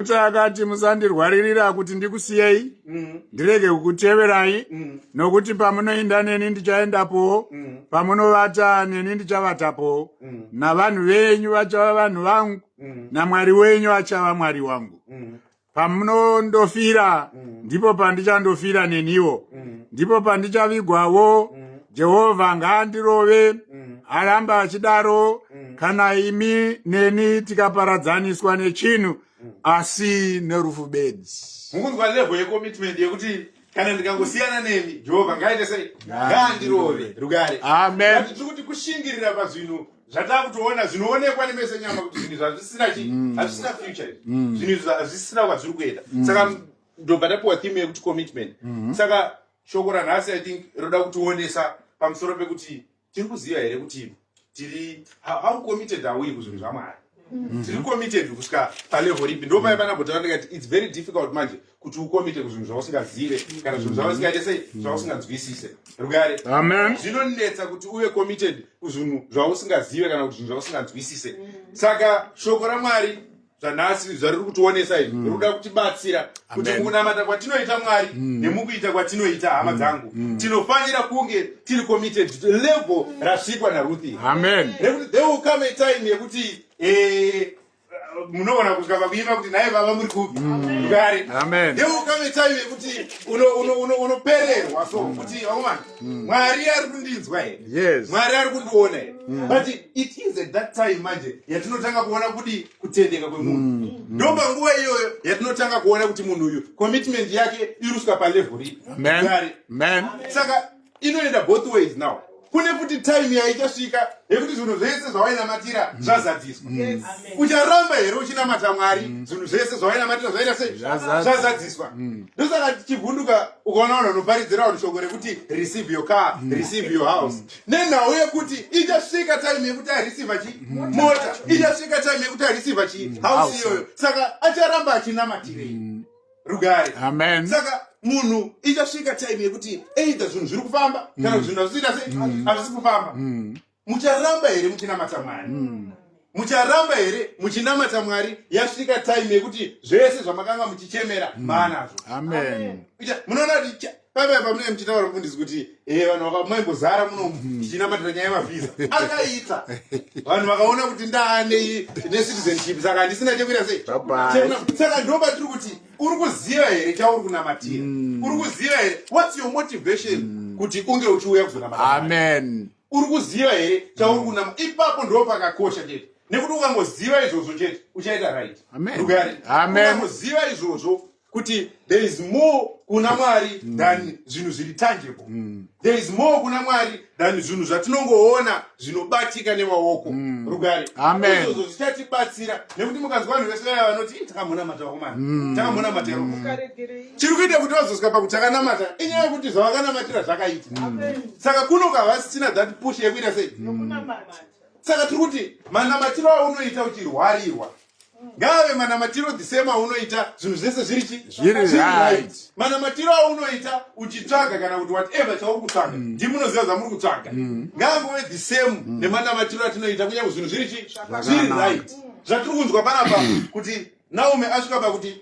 Kuti akati musandirwaririra kuti ndikusiyei mm. ndirege kukuteverai mm. nokuti pamunoinda neni ndichaendapowo mm. pamunovata neni ndichavatapowo mm. navanhu venyu vachava vanhu vangu mm. namwari wenyu achava mwari wangu mm. pamunondofira mm. ndipo pandichandofira neniwo mm. ndipo pandichavigwawo mm. jehovha ngaandirove mm. aramba mm. achidaro mm. kana imi neni tikaparadzaniswa nechinhu mm. asi nerufu bedzi mukunzwa levo yekomitment yekuti kana ndikangosiyana nemi jehovha ngaite sei ngaandirove rugare amen tiri kuti kushingirira pazvinhu zvatakutoona zvinoonekwa nemese nyama kuti zvinhu zvazvisina chii mm. hazvisina future mm. zvinhu zvazvisina kwazviri kuenda mm. saka ndobva tapiwa theme yekuti commitment saka shoko ranhasi i think rinoda kutionesa pamusoro pekuti tiri kuziva here kuti tiri how committed are we kuzvinhu zvamwari mm-hmm. tiri committed kusvika palevel ripi ndo mai vana bhota vandikati its very difficult manje kuti ukomite kuzvinhu zvausingazive kana zvinhu zvausingaite sei mm-hmm. zvausinganzwisise rugare zvinonetsa kuti uve committed kuzvinhu zvausingazive kana kuti zvinhu zvausinganzwisise mm-hmm. saka shoko ramwari zvanhasi zvariri kutionesa izvi mm. rikuda kutibatsira kuti mukunamata kwatinoita mwari mm. nemukuita kwatinoita hama mm. dzangu mm. tinofanira kunge tiri committed to level rasvikwa naruthi amen rekuti there will come a time yekuti eh, munogona kusvika pakuima kuti naye vava muri kupi kare mm. there will come a time yekuti unopererwa so kuti vakomana mm. mwari ari kundinzwa here yes. mwari ari kundiona here mm. but it is at that time manje yatinotanga kuona kuti kutendeka kwemunhu mm. mm. ndo panguva iyoyo yatinotanga kuona kuti munhu uyu commitment yake iruswa palevel ripi saka inoenda both ways now kune kuti time yaichasvika yekuti zvinhu zvese zvawainamatira mm. zvazadziswa mm. ucharamba here uchinamata mwari mm. zvinhu zvese zvawainamatira zvaita sei zvazadziswa ndosaka tichivhunduka ukaona vanhu vanoparidzira vanhu shoko rekuti receive your car mm. receive your house mm. nenhau yekuti ichasvika time yekuti areceiva chi mm. mota ichasvika time yekuti areceiva chi house iyoyo saka acharamba achinamatirei rugare amen saka munhu ichasvika time yekuti either zvinhu zviri kufamba kana kuti zvinhu hazvisiita sei hazvisi kufamba mucharamba here muchinamata mwari mm. mucharamba here muchinamata mwari yasvika time yekuti zvese zvamakanga muchichemera mm. maanazvo amen munoona kuti pavaya pamunenge muchitaura mfundisi kuti e vanhu vakamaingozara muno mm. tichinamatira nyaya yemavhiza akaita vanhu vakaona kuti ndaane necitizenship saka handisina chekuita sei saka ndoba tiri kuti uri kuziva here chauri kunamatira mm. uri kuziva here whats your motivation mm. kuti unge uchiuya kuzonamata amen uri kuziva here chauri mm. kunama ipapo ndo pakakosha chete nekuti ukangoziva izvozvo chete uchaita right ukangoziva izvozvo kuti there is more kuna mwari mm. than zvinhu zviri tangible mm. there is more kuna mwari than zvinhu zvatinongoona zvinobatika nemaoko mm. rugare izvozvo zvichatibatsira nekuti mukanzwa vanhu vese vaya vanoti takamhona matakomana takamhona matero chiri kuita kuti vazosvika pakuti akanamata inyaya yekuti zvavakanamatira zvakaita saka kunoka havasisina that push yekuita sei saka tiri kuti manamatiro aunoita uchirwarirwa ngaave manamatiro the same aunoita zvinhu zvese zviri chi right manamatiro aunoita uchitsvaga kana kuti whatever chauri kutsvaga mm. ndimunoziva zvamuri kutsvaga mm. ngaangove the same mm. nemanamatiro atinoita kunyange zvinhu zviri chi zviri right zvatiri kunzwa panapa kuti naume asvika pakuti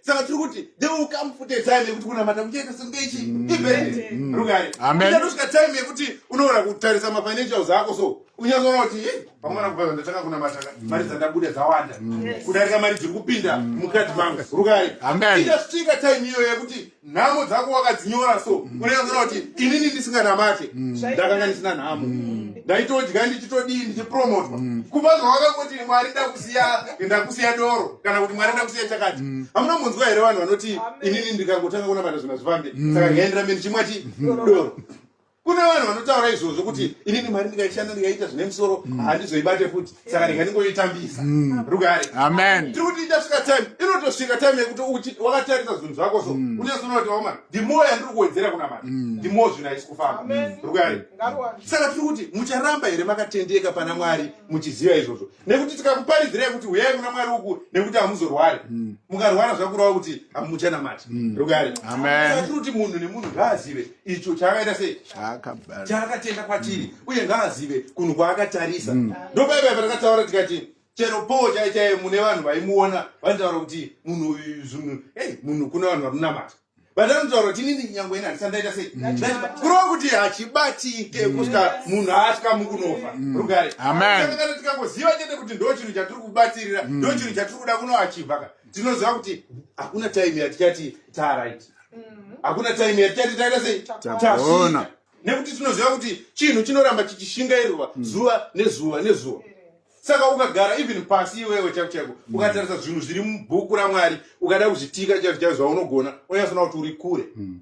saka tiri kuti they will come futi time yekuti kunamata kuchaita senge ichi mm. ivhende mm. rugare uchatosvika time yekuti unoona kutarisa mafinancials ako so unyazoona kuti eh, pamwana kubva ndatanga kunamata mm. mari dzandabuda dzawanda kudarika mari dziri kupinda mukati mangu rugare ichasvika time iyoyo yekuti nhamo dzako wakadzinyora so unyazoona kuti inini ndisinganamate ndakanga ndisina nhamo ndaitodya ndichitodii ndichipromotwa kubva zvawakangoti mwari da siya ndakusiya doro kana kuti mwari ndakusiya chakati mm. hamuna munzwa here vanhu vanoti inini ndikangotanga kunamata zvinhu zvifambe mm. saka ndikaendera meni chimwa ti mm. doro kune vanhu vanotaura izvozvo kuti inini mari ndikaishanda ndikaita zvine musoro handizoibate futi saka ndikandingoitambisa rugare tiri kuti ichasvika time inotosvika time yekuti wakatarisa zvinhu zvako so uchazoona kuti waoma ndimo yandiri kuwedzera kunamata ndimo zvinhu haisi kufamba rugare saka tiri kuti mucharamba here makatendeka pana mwari muchiziva izvozvo nekuti tikakuparidzirai kuti huyai kuna mwari uku nekuti hamuzorwari mm. mukarwara zvakurava kuti hamuchanamati mm. rugare atiri kuti munhu nemunhu ngaazive icho chaakaita sei chaakatenda kwatiri mm. uye ngaazive kunhu kwaakatarisa ndopaipai patakataura tikati chero poo chai chaiye mune vanhu vaimuona vanotaura kuti munhu uyu zvinhu ei munhu kuna vanhu vanonamata but anotaura kuti inini nyangwe ina handisandaita sei kurova kuti hachibatike mm. kusvika munhu asvika mukunofa mm. rugare kana tikangoziva chete kuti ndo chinhu chatiri kubatirira mm. ndo chinhu chatiri kuda kunoachivhaka tinoziva kuti hakuna time yatichati tarit hakuna time yatichati taita sei tasvika nekuti tinoziva kuti chinhu chinoramba chichishingairwa zuva nezuva nezuva saka ukagara even pasi iwewe chaiko chaiko mm. ukatarisa zvinhu zviri mubhuku ramwari ukada kuzvitika chaizvo chaizvo zvaunogona unyasoona kuti uri kure mm.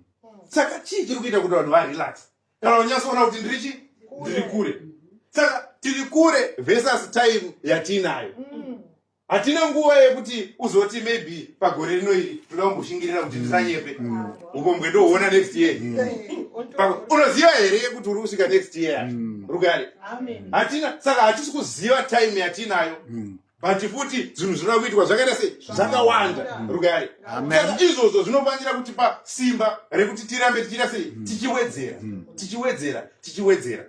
saka chii chiri kuita kuti vanhu varelax kana unyasoona kuti ndiri chi ndiri kure saka tiri kure versus time yatiinayo mm. hatina nguva yekuti uzoti maybe pagore rino iri toda kumboshingirira kuti ndisanyepe ukombwe ndoona next year unoziva here yekuti uri kusvika next year rugare hatina saka hatisi kuziva time yatinayo mm. but futi zvinhu zvinoda kuitwa zvakaita sei zvakawanda rugare saka izvozvo zvinofanira kutipa simba rekuti tirambe tichiita sei mm. tichiwedzera mm. tichiwedzera tichiwedzera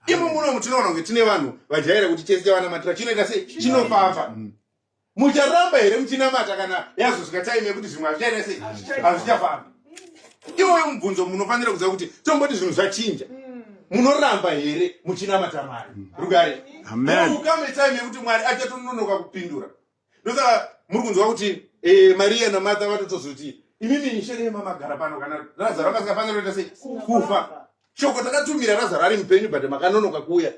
imo munomu tinoona kunge tine vanhu vajaira kuti chese chavanamatira chinoita sei chinofamba mucharamba here muchinamata kana yazosvika time yekuti zvimwe hazvichaita sei hazvichafamba iwoyo mubvunzo munofanira kuziva kuti tomboti zvinhu zvachinja mm. munoramba here muchinamata mwari mm. rugare ukame time yekuti mwari achatononoka kupindura ndosaka muri kunzwa kuti eh, mariya namartha vatotozoti imimi nishene yemamagara pano kana razaro kasingafanira kuita sei kufa shoko takatumira razaro ari mupenyu but makanonoka kuuya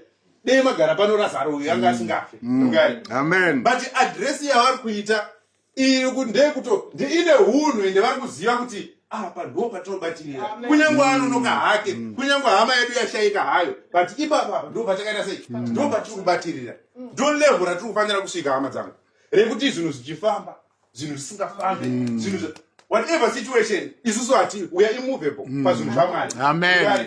dei magara pano razaro uyu anga mm. asingafe mm. amen but adress yavari kuita iyo kuti ndeyekuto ndiine hunhu ende vari kuziva kuti apa ndo patinobatirira kunyange anonoka mm. hake kunyange hama yedu yashaika hayo but ipapa ndo patakaita sei ndo patiri kubatirira ndo levho ratiri kufanira kusvika hama dzangu rekuti zvinhu zvichifamba zvinhu zvisingafambi mm. zvinhu zve whatever situation isusu hati we are immovable mm. pazvinhu zvamwari amen